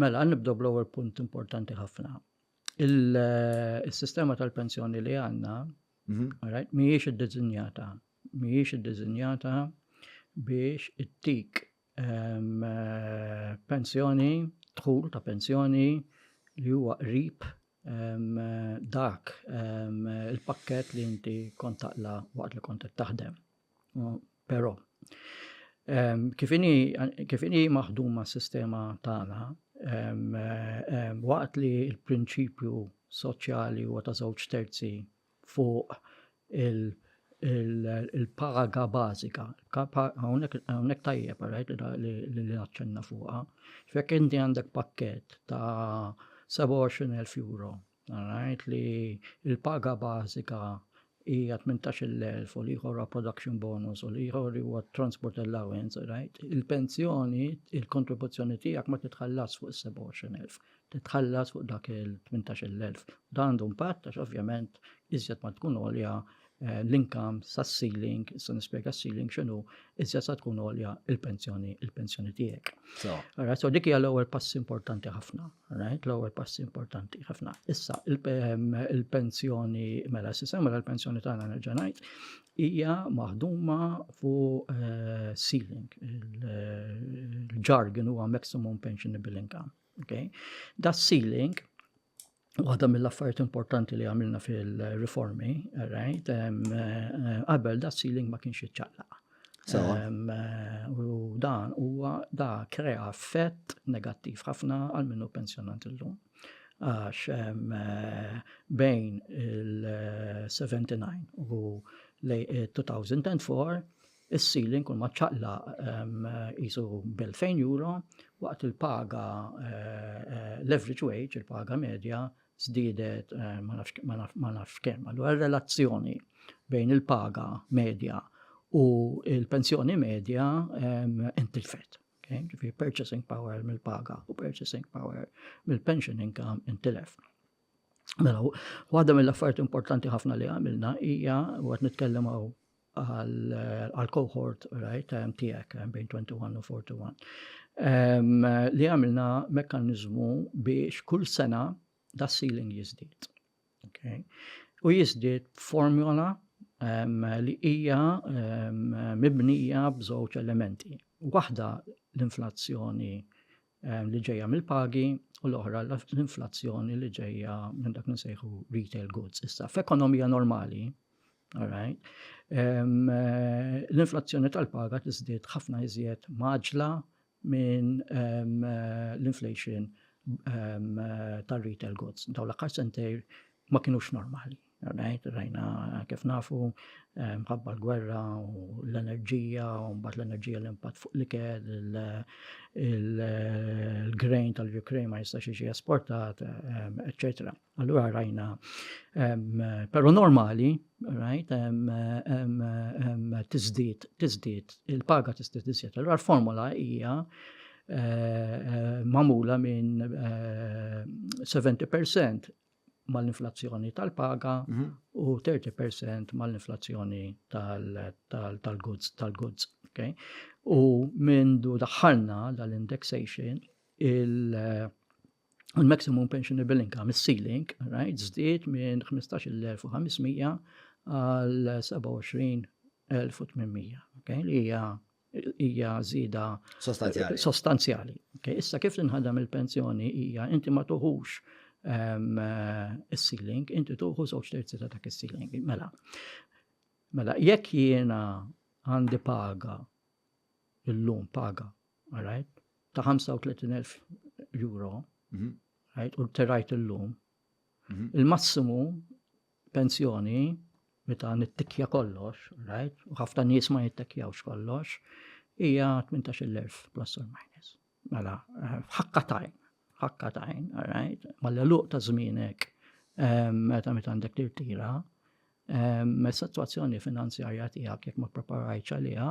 Mela, nibdew bl-ewwel punt importanti ħafna. Il-sistema eh, tal-pensjoni li għandna mhm. mhijiex iddiżinjata, mhijiex iddiżinjata biex ittik ehm, eh, pensjoni, dħul ta' pensjoni li huwa qrib ehm, dak ehm, il-pakket li inti kontaqla waqt li kont taħdem. Però, kif inhi maħduma s-sistema tagħna, waqt li l-prinċipju soċjali huwa ta' żewġ terzi fuq il-paga bażika, hawnhekk tajjeb li naċċenna fuqha, jekk inti għandek pakkett ta' 27,000 euro Ngħid li l-paga bażika hija 18,000 u l-ieħor huwa production bonus u l-ieħor huwa transport allowance, right? Il-pensjoni, il-kontribuzzjoni tiegħek ma titħallas fuq is-27,000, titħallas fuq dak il-18,000. Dan għandu impatt għax ovvjament iżjed ma tkun għolja Eh, l-inkam sa' ceiling, sa' nispjega ceiling xinu, iżja sa' tkun olja il-pensjoni, il-pensjoni tiegħek. Alright, so dik hija l-ewwel pass importanti ħafna, right? L-ewwel pass importanti ħafna. Issa ehm, il-pensjoni mela s-sistema mela l-pensjoni tagħna nerġa' ngħid hija maħduma fuq eh, ceiling, il-ġargin huwa maximum pensionable income. Okay? Da ceiling Waħda mill-affarijiet importanti li għamilna fil-riformi, right, qabel da ceiling ma kienx iċċaqlaq. U dan huwa da krea effett negattiv ħafna għal minnu pensjonant illum. Għax bejn il-79 u 2004 Is-ceiling kull ma ċċaqlaq qisu b'elfejn euro waqt li l-paga l-average wage, il-paga medja, żdiedet ma nafx kemm. Allura r-relazzjoni bejn il-paga medja u l-pensjoni medja intilfet. Ġifieri purchasing power mill-paga u purchasing power mill-pension income intilef. Mela, waħda mill-affarijiet importanti ħafna li għamilna hija, u qed nitkellem hawn għal cohort right time tiegħek eh, bejn 21 u 41. Um, li għamilna mekkaniżmu biex kull sena da ceiling jiżdied. Okay. U jiżdied formula um, li hija um, mibnija b'żewġ elementi. Waħda l-inflazzjoni eh, li ġejja mill-pagi u l-oħra l-inflazzjoni li ġejja minn dak nsejħu retail goods. Issa, f'ekonomija normali, eh, l-inflazzjoni tal-paga tiżdied ħafna iżjed maġla minn eh, l-inflation tal-retail goods. Daw l-aħħar sentejr ma kienux normali. Rajt, rajna kif nafu, eh, mħabba l-gwerra u l-enerġija, u mbagħad l-enerġija l-impatt fuq l-ikel, il-grain tal-Ukraine ma jistax jiġi esportat, etc. Allura rajna, però normali, rajt, tizdit, tizdit, il-paga tizdit tizdit. Allura l-formula hija eh, eh, mamula minn 70% eh, mal-inflazzjoni tal-paga u 30% mal-inflazzjoni tal-goods, tal-goods, okay? U mindu daħħalna dal-indexation, il-maximum pensionable income, il-ceiling, right, zdiet minn 15.500 għal 27.800, okay? Li hija hija żieda sostanzjali. sostanzjali. Okay. Issa kif tinħadam il-pensjoni hija inti ma tuħux um, is-ceiling, inti tuħu żewġ terzi ta' dak is-ceiling. Mela. Mela, jekk jiena għandi paga illum paga, all right, ta' 35,000 euro, mm -hmm. right, u terajt illum, Il-massimu pensjoni meta nittikja kollox, right? U ħafna nies ma jittikjawx kollox, hija 18,000 plus or minus. Mela, eh, ħakka tajn, ħakka tajn, right? Malla luq ta' żmienek eh, meta meta għandek tirtira, eh, situazzjoni finanzjarja tiegħek jekk ma preparajċ għaliha,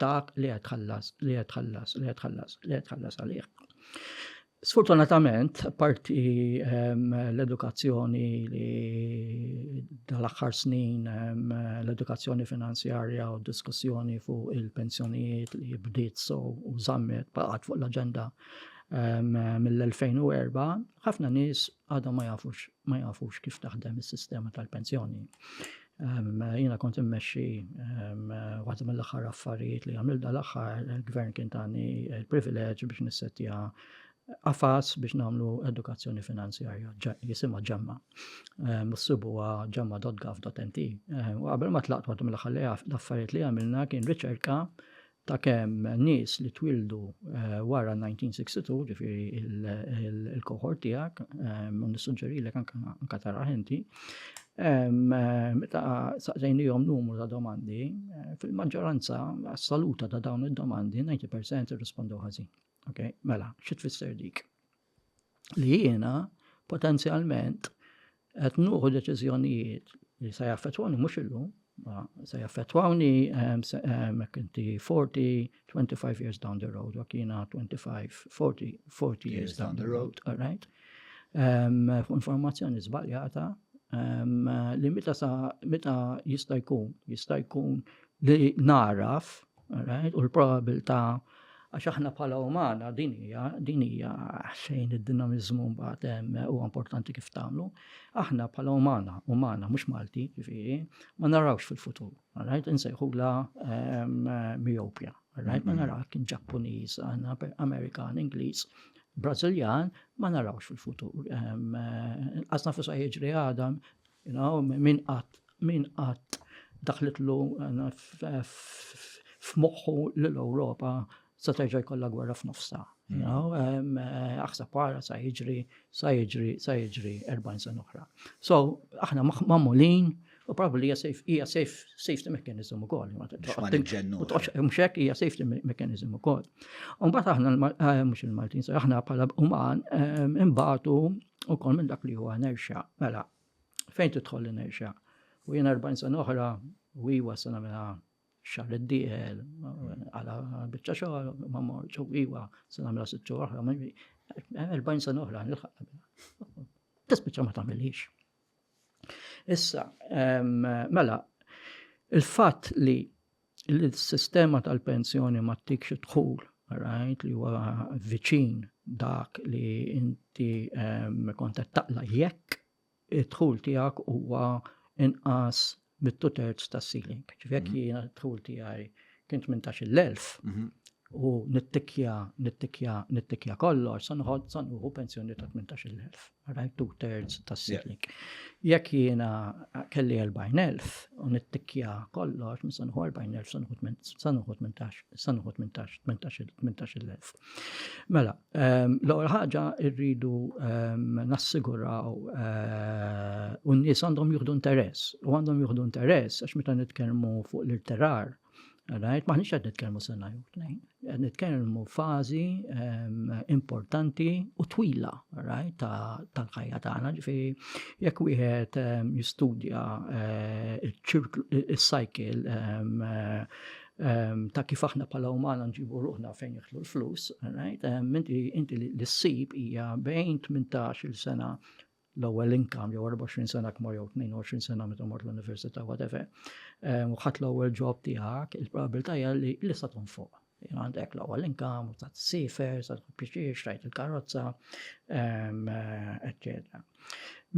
dak li qed tħallas, li qed tħallas, li qed tħallas, li qed tħallas għalih. Sfortunatament, parti ehm, l-edukazzjoni li dal-aħħar snin ehm, l-edukazzjoni finanzjarja u diskussjoni fuq il-pensjonijiet li bdiet so u zammet baqgħet fuq l-aġenda ehm, mill-2004, ħafna nies għadhom ma jafux ma jafux kif taħdem is-sistema tal-pensjoni. Ehm, jiena kont immexxi ehm, waħda mill-aħħar affarijiet li għamil dal-aħħar il-gvern kien tani il-privileġġ biex nissetja għafas biex nagħmlu edukazzjoni finanzjarja jisimha ġemma. Ehm, s-sibuha ġemma.gov.nt. U qabel ma tlaqt waħda mill-aħħar affarijiet li għamilna kien riċerka ta' kemm nies li twieldu wara 1962, ġifieri l-cohort tiegħek, u nissuġġerilek anke taraħ inti, meta saqsejniehom numru ta' domandi, fil-maġġoranza assoluta ta' dawn id-domandi, 90% irrispondew ħażin. Mela, xi tfisser dik? li jiena potenzjalment qed nuħu deċiżjonijiet li se jaffettwani mhux illum, se jaffettwani hekk inti 40, 25 years down the road, jekk jiena 25, 40, 40 years down the road, all right? Informazzjoni żbaljata li meta jista' jkun, jista' jkun li naraf Alright, u l-probabilità għax aħna bħala umana din hija din hija xejn id-dinamiżmu mbagħad huwa importanti kif tagħmlu. Aħna bħala umana, umana mhux Malti, ġifieri, ma narawx fil-futur. Alright, insejħula miopja. Alright, ma naraw kien Ġappuniż, Amerikan, Ingliż, Brażiljan, ma narawx fil-futur. Qasna fuq jiġri għadam, Min qatt daħlitlu f'moħħu li l-Ewropa se terġa' jkollha gwerra f'nofsha? Aħseb ara sa jiġri, sa jiġri, sa jiġri 40 sena oħra. So, aħna magħmulin u probabbli hija safety mechanism ukoll. Mhux hekk hija safety mechanism ukoll. Imbagħad aħna mhux il-Maltin, aħna bħala uman imbagħtu ukoll minn dak li huwa inertia. Mela, fejn tidħol l-inertia? U jien 40 sena oħra, u iwa sena mela xar li d-dieħel, għala bieċa xogħol, ma morċ, u iwa sena mela sitxu oħra, 40 sena oħra, nilħaq. Tispiċċa ma tagħmilix. Issa, mela, il-fatt li l-sistema tal-pensjoni ma tikx dħul, rajt li huwa viċin dak li inti kontet taqla jekk id-dħul tiegħek huwa inqas mit-two thirds tas-ceiling. Ġifi jekk mhm. jiena dħul tiegħi kien 18,000 mhm. u nittikja, nittikja, nittikja kollox, sa nħod sa nħu pensjoni ta' 18,000. Right, two thirds tas-ceiling. Jekk jiena kelli 40,000 u nittikja kollox, sa nħu 40,000 sa nħu 18,000. Mela, ehm, l-ewwel ħaġa rridu ehm, nassiguraw eh, u n-nies għandhom juħdu interess u għandhom juħdu interess għax meta nitkellmu fuq l-irterar Right? Maħniċ għed nitkelmu sena jew tnejn. Għed nitkelmu fazi ehm, importanti u twila right? tal-ħajja tagħna. Ġifieri jekk wieħed jistudja eh, il-cycle ta' kif aħna bħala umana nġibu ruħna fejn jitħlu l-flus, right? Inti li ssib hija bejn 18 il sena l-ewwel income jew 24 sena kmor jew 22 sena meta mort l-università whatever. U ħadd l-ewwel job tiegħek, il-probabilità hija li lista tkun fuq. Għandek l-ewwel income, u ta' sifer, ta' pixiex, rajt il-karozza, eccetera.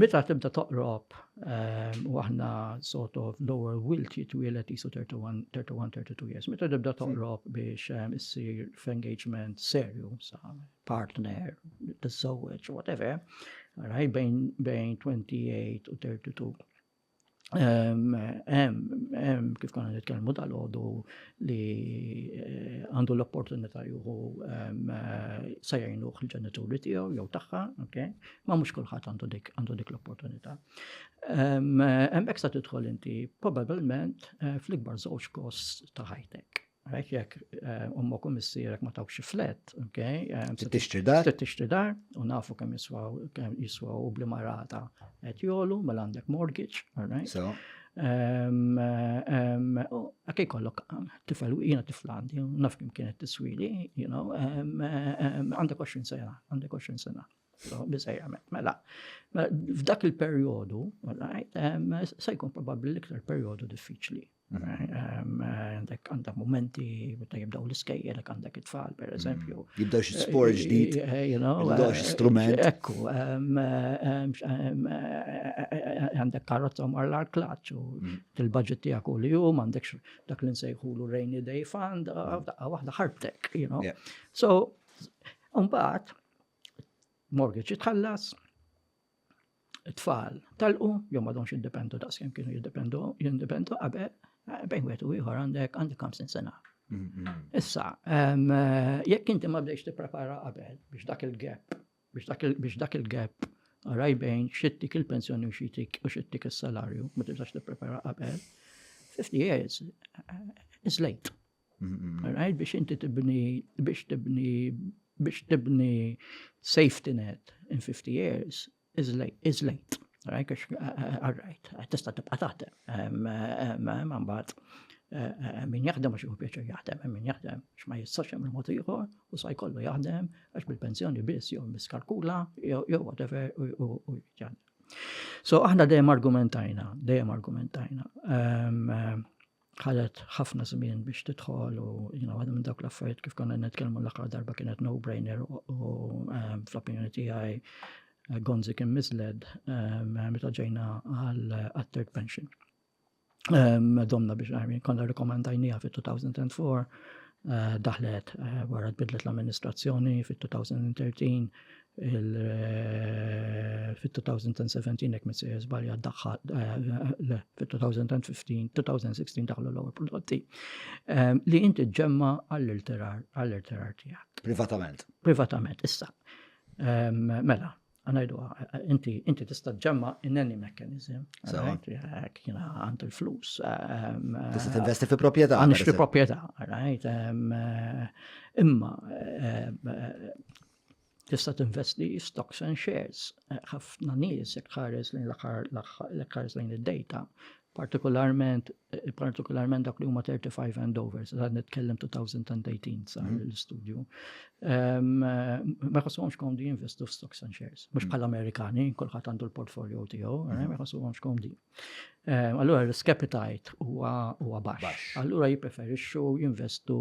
Meta tibda toqrob ehm, u aħna sort of lower will jitwielet jisu 31-32 years, meta tibda toqrob biex ehm, issir f'engagement serju sa partner, t-sowweċ, whatever, raj bejn 28 u 32. kif konna nitkellmu dal-ħodu li eh, għandu l-opportunità juhu eh, sajajnu il-ġenituri tiegħu jew tagħha, ma mhux kulħadd għandu dik għandu dik l-opportunità. Hemmhekk sa tidħol inti probabbilment eh, fl-ikbar żewġ kost ta' ħajtek. Għalek jek eh, ummok u missirek ma tawx flet, ok? Eh, tixtri dar? Tixtri dar, u nafu kem jiswaw, kem jiswaw u bli marata et jolu, mela għandek mortgage, alright? So. Għakaj eh, kollok, tifel, jina tiflandi, naf kem kienet tiswili, you know, għandek 20 sena, għandek 20 sena. So, bizajja, mela, mela, f'dak il-periodu, se jkun probabli l-iktar periodu diffiċli Għandek għandek momenti meta jibdaw l-iskejjel, għandek it-tfal, per eżempju. Mm. Jibdaw xi sport eh, ġdid, eh, eh, jibdaw xi strument. Ekku, għandek karozza mar l-arklaċ u mm. il-budget tijak u li jum, għandek dak li nsejħulu rainy day fund, mm. daqqa waħda ħarbtek, you know. So, un-baħt, mortgage jitħallas, tfal talqu, jew madhomx jiddependu daqs kemm kienu jiddependu jindependu qabel, eh, bejn wieħed u ieħor għandek għandek 50 sena. Mm-hmm. Issa, eh, jekk inti ma bdejx tipprepara qabel biex dak il-gap, biex dak il-gap għaraj bejn xittik il-pensjoni u xittik u xittik il-salarju, ma tibżax tipprepara qabel, 50 years eh, is late. Right? Biex inti tibni, biex tibni, biex tibni safety net in 50 years is late. Is late. Right? Għax, all right, tista tibqa taħdem. Man bat, min jaħdem għax pjaċa jaħdem, min jaħdem għax ma jistax hemm il-mod ieħor u sa jkollu jaħdem għax bil-pensjoni biss jew miskalkula jew whatever u jaħdem. So aħna dejjem argumentajna, dejjem argumentajna. ħadet ħafna żmien biex tidħol u jina waħda minn dawk l-affarijiet kif konna nitkellmu l-aħħar darba kienet no-brainer u ehm, fl-opinjoni tiegħi eh, Gonzi kien misled ehm, meta ġejna għal eh, third pension. Ehm, domna biex għarmin konna rekomendajnija fit-2004 eh, daħlet wara tbidlet l-amministrazzjoni fit-2013 Fit-2017 jekk minn sejjer żbalja daħħal eh, fit-2015, 2016 daħlu l-ewwel prodotti eh, li inti ġemma għall-irtirar għall-irtirar tiegħek. Privatament. Privatament, issa. Eh, mela, għanajdu, inti, inti tista ġemma in any mechanism. Għek jina għand il-flus. Tista t-investi fi propieta. Għanix fi propieta, għarajt. Imma, tista' tinvesti stocks and shares. Ħafna nies jekk ħares lejn l-aħħar lejn id-data, partikolarment partikolarment dak li huma 35 and over, sa nitkellem 2018 sa mhm. l-istudju. Ma jħossuhomx komdi jinvestu f'stocks and shares, mhux mhm. bħal Amerikani, kulħadd għandu l-portfolio tiegħu, eh, ma jħossuhomx komdi. Eh, allura risk appetite huwa baxx. Allura jippreferixxu jinvestu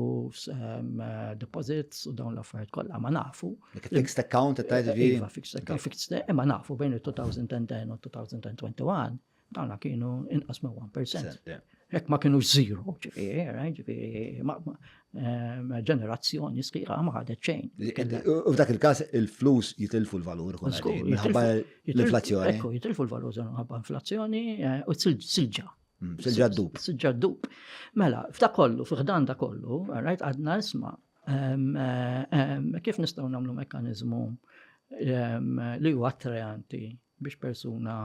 ehm, eh, deposits u dawn l-affarijiet kollha ma nafu. Fixed account ta' eh, iva, fixed account, fixed imma nafu bejn il-2010 u 2021 dawna kienu inqas ma' 1%. Jekk ma kienu zero, ġifiri, eh, ġifiri, eh, ġenerazzjoni sħiħa ma ħadet xejn. U f'dak il-każ il-flus jitilfu l-valur minħabba l-inflazzjoni. Ekku, jitilfu l-valur minħabba inflazzjoni eh, u silġa. Mm, silġa d-dub. Silġa d-dub. Mela, f'da kollu, f'dan da kollu, rajt għadna isma' Kif nistgħu nagħmlu mekkaniżmu li huwa attrajanti biex persuna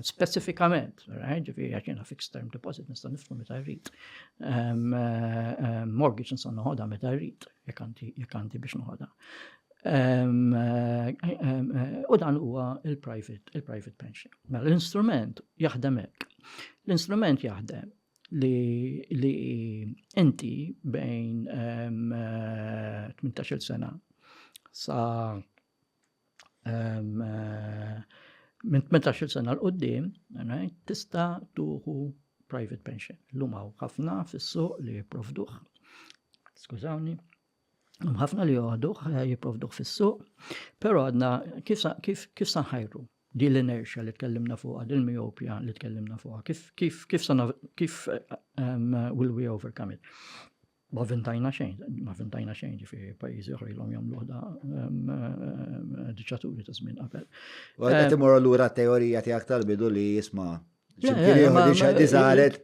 speċifikament, ġifieri għax jiena fixed term deposit nista' nifhmu meta rrid. Mortgage nista' noħodha meta rrid, jekk għandi biex noħodha. U dan huwa il-private pension. Mela l-instrument jaħdem hekk. L-instrument jaħdem li, li inti bejn 18 sena sa minn 18 sena l-qoddim, tista tuħu private pension. L-lumaw ħafna fis-suq li jiprovduħ. Skużawni. Hemm ħafna li joħduh, eh, jipprovduh fis-suq, però għadna kif, kif, kif sanħajru din l-inerxja li tkellimna fuqha, din miopja li tkellimna fuqha, kif, kif, kif, kif um, will we overcome it? Ma vintajna xejn, ma vintajna xejn ġifi pajizi oħra jilom jom luħda diċaturi ta' żmien qabel. Għal qed eh, imorru lura teorija tiegħek tal-bidu li jisma'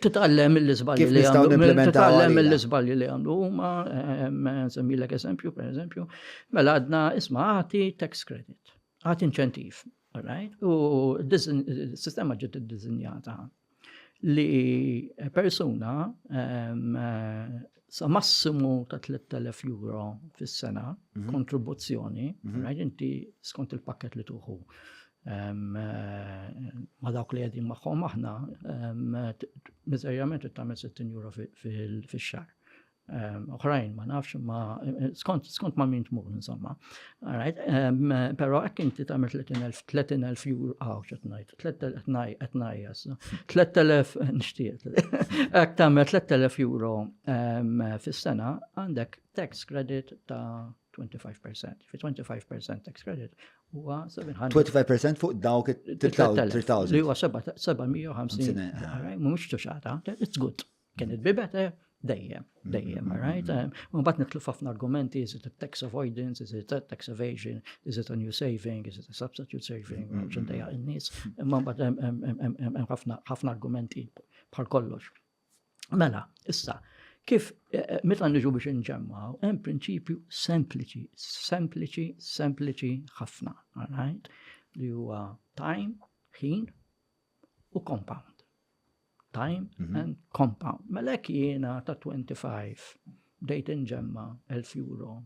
Titgħallem mill-iżbalji li għamlu. Titgħallem mill-iżbalji li għamlu. Huma semmilek eżempju, per eżempju, mela għadna isma' għati tax credit, għati inċentiv. U s-sistema ġiet iddiżinjata li persuna sa massimu ta' 3000 euro fis-sena mhm. kontribuzzjoni, mhm. inti skont il-pakket li tuħu ma' dawk li qegħdin magħhom aħna miżerjament tagħmel 60 euro fix-xahar. Oħrajn ma nafx ma skont ma' min tmur insomma. Però hekk inti tagħmel 30,000 euro aw x'qed ngħid, 3000 qed ngħajjas. 3000 nixtieq. Hekk tagħmel 3000 euro fis-sena għandek tax credit ta' 25%. Fi 25% tax credit huwa 700. 25% fuq dawk 3000. Li huwa 750. Mhux tuxata, it's good. Can it be better? Dejjem, dejjem, mm-hmm. right? Mm-hmm. Mbagħad nitlu ħafna argumenti, is it a tax avoidance, is it a tax evasion, is it a new saving, is it a substitute saving, mm-hmm. ċendejja in-nies. Imma mbagħad hemm ħafna argumenti bħal kollox. Mela, issa, kif eh, eh, meta niġu biex inġemmaw, hemm prinċipju sempliċi, sempliċi, sempliċi ħafna, right? li huwa time, ħin u compound. Time mm -hmm. and compound. Mela jiena ta' 25 dejt inġemma 1000 euro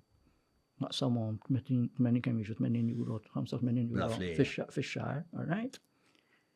naqsamhom 80 kemm jiġu 80 euro, 85 euro fix-xahar, all right?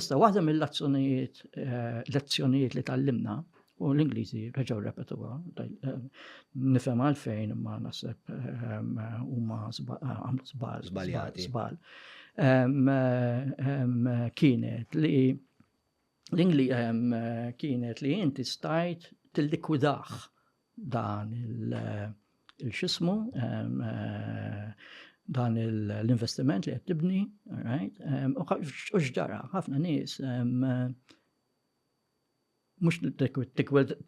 Issa waħda mill-azzjonijiet lezzjonijiet li tallimna u l-Ingliżi reġgħu repetuha nifhem għalfejn imma naħseb huma żbal żbal kienet li l-Ingli kienet li inti stajt tillikwidah dan il-xismu, dan l-investiment li qed tibni, right? U x'ġara, ħafna nies mhux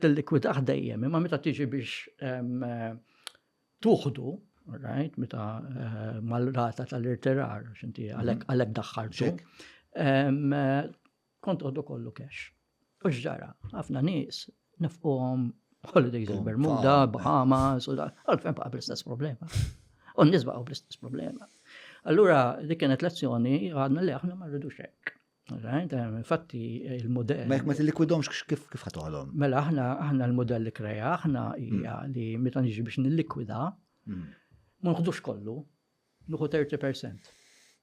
tillikwidah dejjem, imma meta tiġi biex tuħdu, right? Meta mal-rata tal-irtirar, x'inti għalhekk daħħaltu. Kont uħdu kollu cash. U xġara, ħafna nies nifquhom holidays il-Bermuda, Bahamas, u da, għalfejn baqa bl-istess problema. U n-nies baqgħu bl-istess problema. Allura, li kienet lezzjoni, għadna li aħna ma rridux hekk. Infatti, il-modell. Ma jek ma t-likwidomx kif kif ħatoħlom. Mela, aħna, aħna l-modell li kreja, aħna hija mm. li meta niġi biex nillikwida, mm. ma nħdux kollu, Nuħu 30%.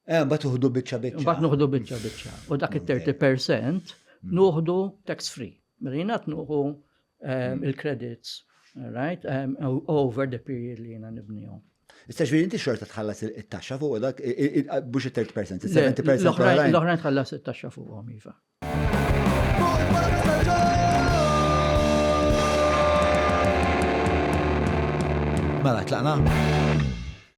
Eh, mbagħad uħdu biċċa biċċa. Mbagħad nuħdu biċċa biċċa. U dak it-30% mm. nuħdu tax free. Mela jiena nuħu eh, mm. il-credits, right, eh, over the period li jiena nibnihom. Issa ġviri inti xorta tħallas il-taxxa fuq dak, bux il-30%, il-70%. L-oħrajn tħallas il-taxxa fuq għom, Iva. Mela, tlaqna?